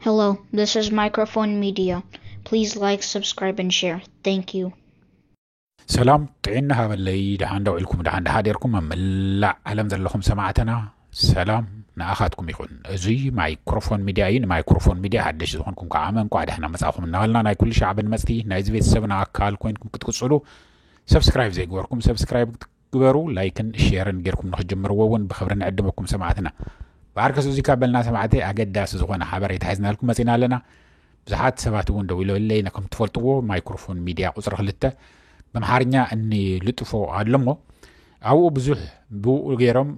Hello, this is Microphone Media. Please like, subscribe, and share. Thank you. ሰላም ጥዕና ሃበለይ ደሓን ደው ኢልኩም ደሓን ደሓዴርኩም ኣብ መላእ ዓለም ዘለኹም ሰማዕትና ሰላም ንኣኻትኩም ይኹን እዙይ ማይክሮፎን ሚድያ እዩ ንማይክሮፎን ሚድያ ሓደሽ ዝኾንኩም ከዓ መንቋዕ ደሕና መፃኹም እናበልና ናይ ኩሉ ሻዕ ብንመፅቲ ናይዚ ቤተሰብና ኣካል ኮይንኩም ክትቅፅሉ ሰብስክራይብ ዘይግበርኩም ሰብስክራይብ ግበሩ ላይክን ሼርን ጌርኩም ንክጅምርዎ እውን ብክብሪ ንዕድመኩም ሰማዕትና ብዓርከስ እዚካ በልና ሰማዕተይ ኣገዳሲ ዝኮነ ሓበሬታ ሒዝናልኩም መፂና ኣለና ብዙሓት ሰባት እውን ደዊሎለይ ነከም ትፈልጥዎ ማይክሮፎን ሚድያ ቁፅሪ ክልተ ብምሓርኛ እኒ ልጥፎ ኣለሞ ኣብኡ ብዙሕ ብኡ ገይሮም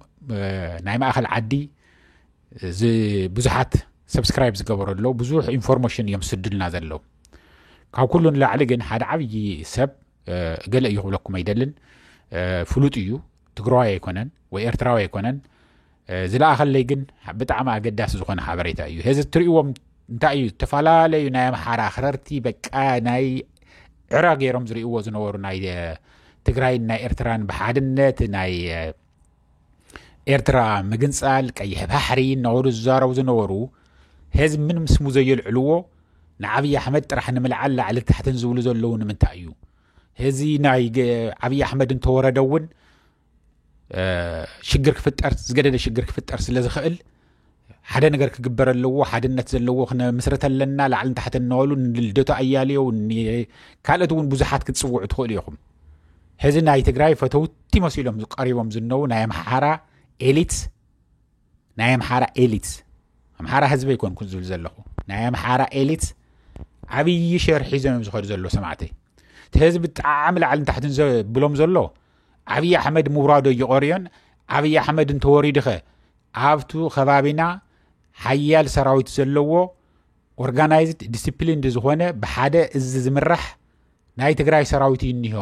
ናይ ማእኸል ዓዲ ብዙሓት ሰብስክራይብ ዝገበሩ ኣለዉ ብዙሕ ኢንፎርሜሽን እዮም ዝስዱልና ዘለዉ ካብ ኩሉ ንላዕሊ ግን ሓደ ዓብዪ ሰብ ገለ እዩ ክብለኩም ኣይደልን ፍሉጥ እዩ ትግራዋይ ኣይኮነን ወይ ኤርትራዊ ኣይኮነን ዝለኣኸለይ ግን ብጣዕሚ ኣገዳሲ ዝኾነ ሓበሬታ እዩ ሄዚ እትሪእዎም እንታይ እዩ ዝተፈላለዩ ናይ ኣምሓራ ኣኽረርቲ በቃ ናይ ዕረ ገይሮም ዝርእዎ ዝነበሩ ናይ ትግራይን ናይ ኤርትራን ብሓድነት ናይ ኤርትራ ምግንጻል ቀይሕ ባሕሪ እናበሉ ዝዛረቡ ዝነበሩ ህዝቢ ምንም ስሙ ዘየልዕልዎ ንዓብዪ ኣሕመድ ጥራሕ ንምልዓል ላዕሊ ታሕትን ዝብሉ ዘለዉ ንምንታይ እዩ እዚ ናይ ዓብዪ ኣሕመድ እንተወረደ እውን ሽግር ክፍጠር ዝገደደ ሽግር ክፍጠር ስለ ዝኽእል ሓደ ነገር ክግበር ኣለዎ ሓድነት ዘለዎ ክነምስረት ኣለና ላዕልን ታሕት እናበሉ ንልደቱ ኣያሌው ካልኦት እውን ብዙሓት ክትፅውዑ ትኽእሉ ኢኹም ሕዚ ናይ ትግራይ ፈተውቲ መሲሎም ቀሪቦም ዝነዉ ናይ ኣምሓራ ኤሊት ናይ ኣምሓራ ኤሊት ኣምሓራ ህዝቢ ይኮን ዝብል ዘለኹ ናይ ኣምሓራ ኤሊት ዓብዪ ሸር ሒዞም እዮም ዝኸዱ ዘሎ ሰማዕተይ እቲ ህዝቢ ጣዕሚ ላዕልን ታሕትን ብሎም ዘሎ ዓብዪ ኣሕመድ ምውራዶ እይቐርዮን ዓብዪ ኣሕመድ እንተወሪዱኸ ኣብቱ ከባቢና ሓያል ሰራዊት ዘለዎ ኦርጋናይዝድ ዲስፕሊንድ ዝኾነ ብሓደ እዚ ዝምራሕ ናይ ትግራይ ሰራዊት እዩ እኒሆ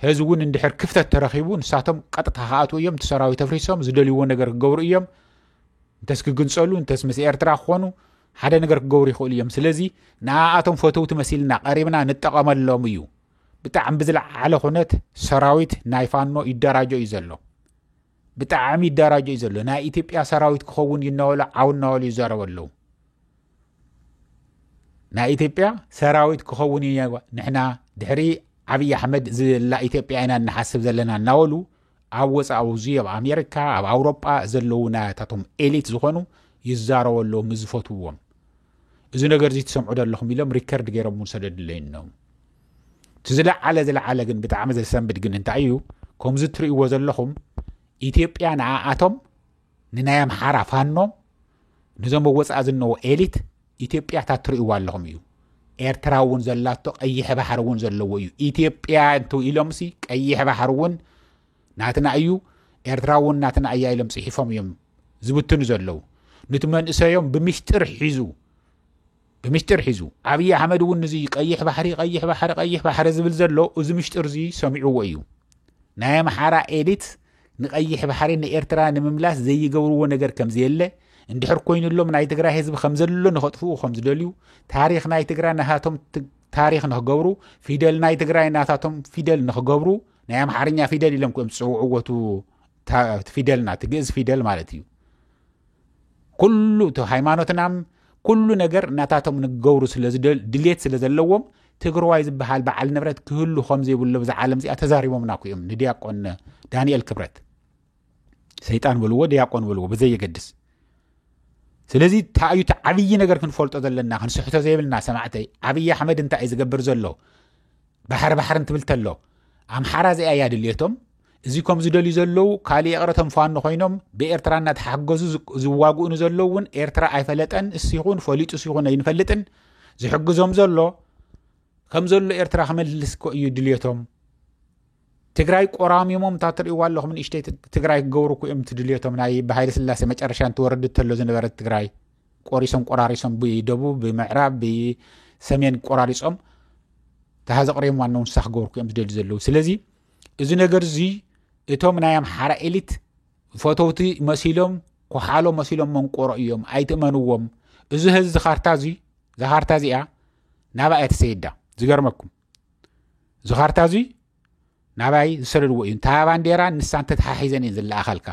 ህዚ እውን እንድሕር ክፍተት ተረኪቡ ንሳቶም ቀጥታ ክኣትዉ እዮም እቲ ሰራዊት ኣፍሪሶም ዝደልይዎ ነገር ክገብሩ እዮም እንተስ ክግንፀሉ እንተስ ምስ ኤርትራ ክኾኑ ሓደ ነገር ክገብሩ ይኽእሉ እዮም ስለዚ ንኣኣቶም ፈተውቲ መሲልና ቀሪብና ንጠቐመሎም እዩ ብጣዕሚ ብዝለዓለ ኩነት ሰራዊት ናይ ፋኖ ይደራጆ እዩ ዘሎ ብጣዕሚ ይደራጆ እዩ ዘሎ ናይ ኢትዮጵያ ሰራዊት ክኸውን እዩ እናበሉ ዓው እናበሉ ይዛረቡ ኣለዉ ናይ ኢትዮጵያ ሰራዊት ክኸውን እዩ ንሕና ድሕሪ ዓብዪ ኣሕመድ ዝላ ኢትዮጵያ ኢና እናሓስብ ዘለና እናበሉ ኣብ ወፃኢ ኣብዚ ኣብ ኣሜሪካ ኣብ ኣውሮጳ ዘለዉ ናያታቶም ኤሊት ዝኾኑ ይዛረቡ ኣለዉ ምስ ዝፈትውዎም እዚ ነገር እዚ ትሰምዑ ዘለኹም ኢሎም ሪከርድ ገይሮም እውን ሰደድለይ እኖም እቲ ዝለዓለ ዝለዓለ ግን ብጣዕሚ ዘሰንብድ ግን እንታይ እዩ ከምዚ እትርእይዎ ዘለኹም ኢትዮጵያ ንኣኣቶም ንናይ ኣምሓራ ፋኖ ነዞም ኣብ ወፃኢ ዝነዎ ኤሊት ኢትዮጵያ እታ እትርእይዎ ኣለኹም እዩ ኤርትራ እውን ዘላቶ ቀይሕ ባሕሪ እውን ዘለዎ እዩ ኢትዮጵያ እንተ ኢሎምሲ ቀይሕ ባሕሪ እውን ናትና እዩ ኤርትራ እውን ናትና እያ ኢሎም ፅሒፎም እዮም ዝብትኑ ዘለው ንቲ መንእሰዮም ብምሽጢር ሒዙ ብምሽጢር ሒዙ ኣብዪ ኣሕመድ እውን እዚ ቀይሕ ባሕሪ ቀይሕ ባሕሪ ቀይሕ ባሕሪ ዝብል ዘሎ እዚ ምሽጢር እዚ ሰሚዕዎ እዩ ናይ ኣምሓራ ኤሊት ንቀይሕ ባሕሪ ንኤርትራ ንምምላስ ዘይገብርዎ ነገር ከምዘየለ እንድሕር ኮይኑሎም ናይ ትግራይ ህዝቢ ከምዘሎ ንኸጥፍኡ ከምዝደልዩ ታሪክ ናይ ትግራይ ናታቶም ታሪክ ንክገብሩ ፊደል ናይ ትግራይ ናታቶም ፊደል ንክገብሩ ናይ ኣምሓርኛ ፊደል ኢሎም ክኦም ዝፀውዕዎቱ ፊደልና እቲ ግእዝ ፊደል ማለት እዩ ኩሉ እቲ ሃይማኖትና ኩሉ ነገር እናታቶም ንገብሩ ድሌት ስለ ዘለዎም ትግራዋይ ዝበሃል በዓል ንብረት ክህሉ ከም ዘይብሎ ብዛ ዓለም እዚኣ ተዛሪቦምና ኩእዮም ንድያቆን ዳንኤል ክብረት ሰይጣን በልዎ ድያቆን በልዎ ብዘየገድስ ስለዚ እንታይ እዩ እቲ ዓብዪ ነገር ክንፈልጦ ዘለና ክንስሕቶ ዘይብልና ሰማዕተይ ዓብዪ ኣሕመድ እንታይ እዩ ዝገብር ዘሎ ባሕሪ ባሕሪ እንትብል ተሎ ኣምሓራ እዚኣ እያ ድልየቶም እዚ ከም ዝደልዩ ዘለዉ ካልእ የቕረቶም ፋኖ ኮይኖም ብኤርትራ እናተሓገዙ ዝዋግኡ ንዘለዉ እውን ኤርትራ ኣይፈለጠን እሱ ይኹን ፈሊጡ እሱ ይኹን ኣይንፈልጥን ዝሕግዞም ዘሎ ከም ዘሎ ኤርትራ ክመልስ ኮ እዩ ድልየቶም ትግራይ ቆራሚሞም እታ ትርእይዋ ኣለኹም ንእሽተይ ትግራይ ክገብሩ እኮ እዮም ትድልዮቶም ናይ ብሃይለ ስላሴ መጨረሻ እንትወርድ ተሎ ዝነበረት ትግራይ ቆሪሶም ቆራሪሶም ብደቡብ ብምዕራብ ብሰሜን ቆራሪፆም ተሃዚ ቅሪም ዋና ውንሳ ክገብርኩ እዮም ዝደልዩ ዘለዉ ስለዚ እዚ ነገር እዚ እቶም ናይ ኣምሓራ ኤሊት ፈተውቲ መሲሎም ኮሓሎ መሲሎም መንቆሮ እዮም ኣይትእመንዎም እዚ ህዚ ዝካርታ እዚ ዝካርታ እዚኣ ናብኣ እያ ተሰይዳ ዝገርመኩም እዚ ካርታ እዙይ ናባይ ዝሰደድዎ እዩ እንታ ባንዴራ ንሳ እንተተሓሒዘን እየን ዝለኣኻልካ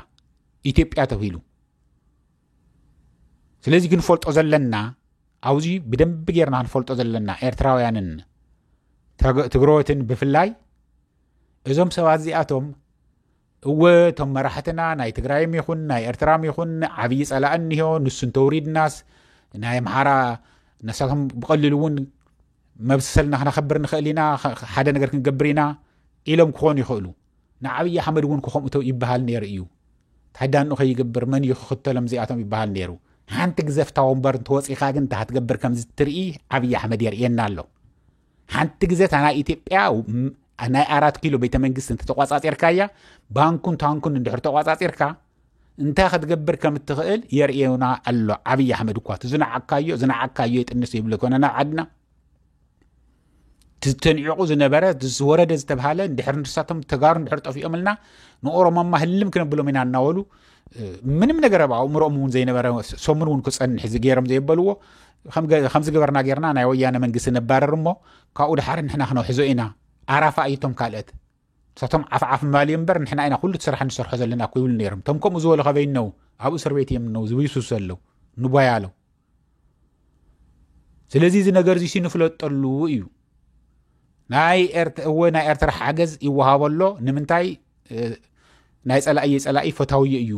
ኢትዮጵያ ተብሂሉ ስለዚ ክንፈልጦ ዘለና ኣብዚ ብደንቢ ጌርና ክንፈልጦ ዘለና ኤርትራውያንን ትግረወትን ብፍላይ እዞም ሰባት እዚኣቶም እወ እቶም መራሕትና ናይ ትግራይም ይኹን ናይ ኤርትራም ይኹን ዓብዪ ጸላእ እኒሆ ንሱ እንተውሪድናስ ናይ ኣምሓራ ነሳቶም ብቐሊሉ እውን መብሰልና ክነኸብር ንኽእል ኢና ሓደ ነገር ክንገብር ኢና ኢሎም ክኾኑ ይኽእሉ ንዓብዪ ኣሕመድ እውን ክኸምኡቶ ይበሃል ነይሩ እዩ ታዳንኡ ከይገብር መን እዩ ክኽተሎም እዚኣቶም ይበሃል ነይሩ ሓንቲ ግዘፍታ ወንበር እንተወፂኻ ግን እንታይ ክትገብር ከምዚ ትርኢ ዓብዪ ኣሕመድ የርእየና ኣሎ ሓንቲ ግዜ እታ ናይ ኢትዮጵያ ናይ ኣራት ኪሎ ቤተ መንግስቲ እንተተቋፃፂርካያ ባንኩን ታንኩን እንድሕር ተቋፃፂርካ እንታይ ክትገብር ከም እትኽእል የርእዩና ኣሎ ዓብዪ ኣሕመድ እኳ እቲ ዝነዓካዮ ዝነዓካዮ የጥንስ ይብለ ኮነ ናብ ዓድና ተንዒቑ ዝነበረ ዝወረደ ዝተብሃለ እንድሕር ንሳቶም ተጋሩ እንድሕር ጠፊኦምልና ንኦሮሞማ ህልም ክነብሎም ኢና እናበሉ ምንም ነገር ኣብ ኣእምሮኦም እውን ዘይነበረ ሰሙን እውን ክፀንሕ ዝገይሮም ዘየበልዎ ከምዚ ገበርና ጌርና ናይ ወያነ መንግስቲ ነባረር እሞ ካብኡ ድሓር ንሕና ክነውሕዞ ኢና ኣራፋ እዩቶም ካልኦት ንሳቶም ዓፍዓፍ ማል እዮም እምበር ንሕና ኢና ኩሉ እቲ ስራሕ ንሰርሖ ዘለና እኮ ይብሉ ነይሮም እቶም ከምኡ ዝበሉ ከበይ እነው ኣብ እስር ቤት እዮም እነው ዝብይሱ ዘለው ንቦያ ኣለው ስለዚ እዚ ነገር እዚ ንፍለጠሉ እዩ ናይ እወ ናይ ኤርትራ ሓገዝ ይወሃቦ ኣሎ ንምንታይ ናይ ፀላእየ ፀላኢ ፈታውዮ እዩ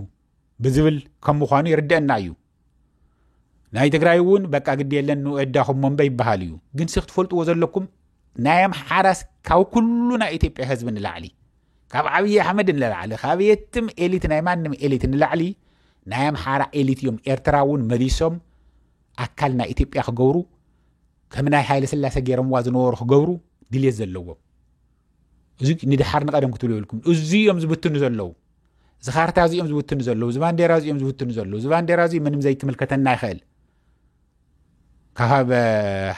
ብዝብል ከም ምኳኑ ይርደአና እዩ ናይ ትግራይ እውን በቃ ግዲ የለን ንወዳኹም ሞንበ ይበሃል እዩ ግን ሲ ክትፈልጥዎ ዘለኩም ናይ ኣምሓራስ ካብ ኩሉ ናይ ኢትዮጵያ ህዝቢ ንላዕሊ ካብ ዓብዪ ኣሕመድ ንላዕሊ ካብ የትም ኤሊት ናይ ማንም ኤሊት ንላዕሊ ናይ ኣምሓራ ኤሊት እዮም ኤርትራ እውን መሊሶም ኣካል ናይ ኢትዮጵያ ክገብሩ ከም ናይ ሃይለ ስላሴ ገይሮምዋ ዝነበሩ ክገብሩ ድልየት ዘለዎም እዚ ንድሓር ንቐደም ክትብሉ የብልኩም እዚ እዮም ዝብትኑ ዘለዉ እዚ ካርታ እዚ እዮም ዝብትኑ ዘለዉ እዚ ባንዴራ እዚ እዮም ዝብትኑ ዘለዉ እዚ ባንዴራ እዚ ምንም ዘይክምልከተና ይኽእል ካብ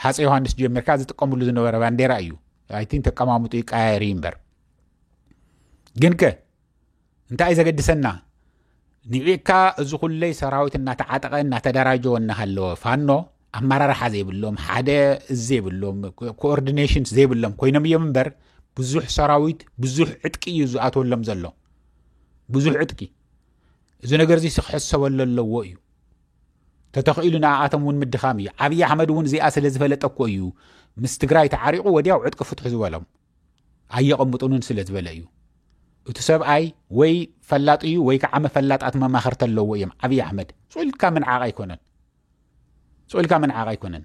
ሓፀ ዮሃንስ ጀሚርካ ዝጥቀምሉ ዝነበረ ባንዴራ እዩ ኣይቲን ተቀማምጡ ይቀያየር እዩ እምበር ግን ከ እንታይ እዩ ዘገድሰና ንዒካ እዚ ኩለይ ሰራዊት እናተዓጠቐ እናተደራጀወ እናሃለወ ፋኖ ኣመራርሓ ዘይብሎም ሓደ ዘይብሎም ኮኦርዲኔሽን ዘይብሎም ኮይኖም እዮም እምበር ብዙሕ ሰራዊት ብዙሕ ዕጥቂ እዩ ዝኣትወሎም ዘሎ ብዙሕ ዕጥቂ እዚ ነገር እዚ ክሕሰበሉ ኣለዎ እዩ ተተኽኢሉ ንኣኣቶም እውን ምድኻም እዩ ዓብዪ ኣሕመድ እውን እዚኣ ስለ ዝፈለጠ እኮ እዩ ምስ ትግራይ ተዓሪቑ ወዲያው ዕጥቂ ፍትሑ ዝበሎም ኣየቐምጡንን ስለ ዝበለ እዩ እቲ ሰብኣይ ወይ ፈላጥ እዩ ወይ ከዓ መፈላጣት መማኸርቲ ኣለዎ እዮም ዓብዪ ኣሕመድ ፅልካ ምንዓቕ ኣይኮነን ፅልካ ምንዓቕ ኣይኮነን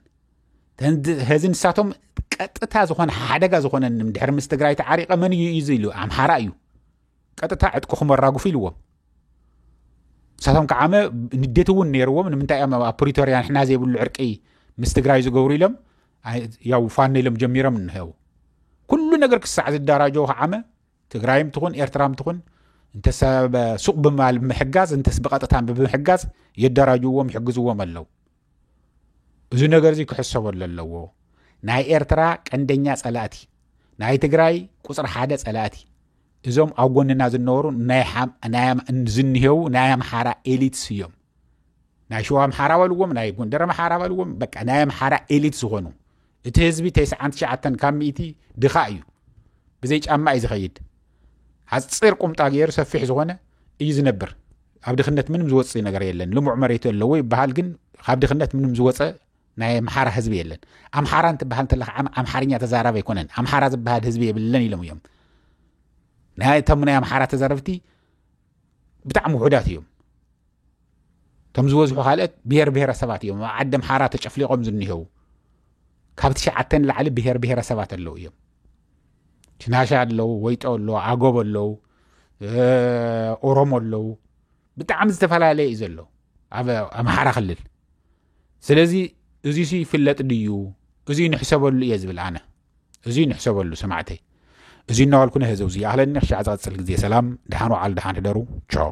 ህዚ ንሳቶም ቀጥታ ዝኾነ ሓደጋ ዝኾነ ድሕሪ ምስ ትግራይ ተዓሪቐ መን እዩ እዚ ኢሉ ኣምሓራ እዩ ቀጥታ ዕጥቅኹም ኣራግፉ ኢልዎም ንሳቶም ከዓመ ንዴት እውን ነይርዎም ንምንታይ እዮም ኣብ ፕሪቶርያ ንሕና ዘይብሉ ዕርቂ ምስ ትግራይ ዝገብሩ ኢሎም ያው ፋኖ ኢሎም ጀሚሮም እንሄው ኩሉ ነገር ክሳዕ ዝደራጀው ከዓመ ትግራይም ትኹን ኤርትራም ትኹን እንተሰ ሱቕ ብምባል ብምሕጋዝ እንተስ ብቐጥታ ብምሕጋዝ የደራጅዎም ይሕግዝዎም ኣለው እዚ ነገር እዚ ክሕሰበሉ ኣለዎ ናይ ኤርትራ ቀንደኛ ጸላእቲ ናይ ትግራይ ቁፅሪ ሓደ ጸላእቲ እዞም ኣብ ጎንና ዝነበሩ ዝንሄው ናይ ኣምሓራ ኤሊትስ እዮም ናይ ሸዋ ኣምሓራ በልዎም ናይ ጎንደር ኣምሓራ በልዎም በቃ ናይ ኣምሓራ ኤሊት ዝኾኑ እቲ ህዝቢ ተስዓን ትሽዓተን ካብ ሚእቲ ድኻ እዩ ብዘይ ጫማ እዩ ዝኸይድ ሓፂር ቁምጣ ገይሩ ሰፊሕ ዝኾነ እዩ ዝነብር ኣብ ድኽነት ምንም ዝወፅእ ነገር የለን ልሙዕ መሬት ኣለዎ ይበሃል ግን ካብ ድኽነት ምንም ዝወፀ ናይ ኣምሓራ ህዝቢ የለን ኣምሓራ እንትበሃል እንተለካ ኣምሓርኛ ተዛራቢ ኣይኮነን ኣምሓራ ዝበሃል ህዝቢ የብለን ኢሎም እዮም ናይቶም ናይ ኣምሓራ ተዛረብቲ ብጣዕሚ ውሑዳት እዮም እቶም ዝበዝሑ ካልኦት ብሄር ብሄረሰባት እዮም ኣብ ዓዲ ኣምሓራ ተጨፍሊቆም ዝኒሄው ካብ ትሽዓተ ንላዕሊ ብሄር ብሄረሰባት ኣለው እዮም ሽናሻ ኣለው ወይጦ ኣለው ኣጎብ ኣለው ኦሮሞ ኣለው ብጣዕሚ ዝተፈላለየ እዩ ዘሎ ኣብ ኣምሓራ ክልል ስለዚ እዚ ይፍለጥ ድዩ እዚ ንሕሰበሉ እየ ዝብል ኣነ እዙይ ንሕሰበሉ ሰማዕተይ እዙይ እናባልኩ ነህዘው እዙይ ኣህለኒ ክሻዕ ዝቐፅል ግዜ ሰላም ድሓን ወዓል ድሓን ሕደሩ ቻው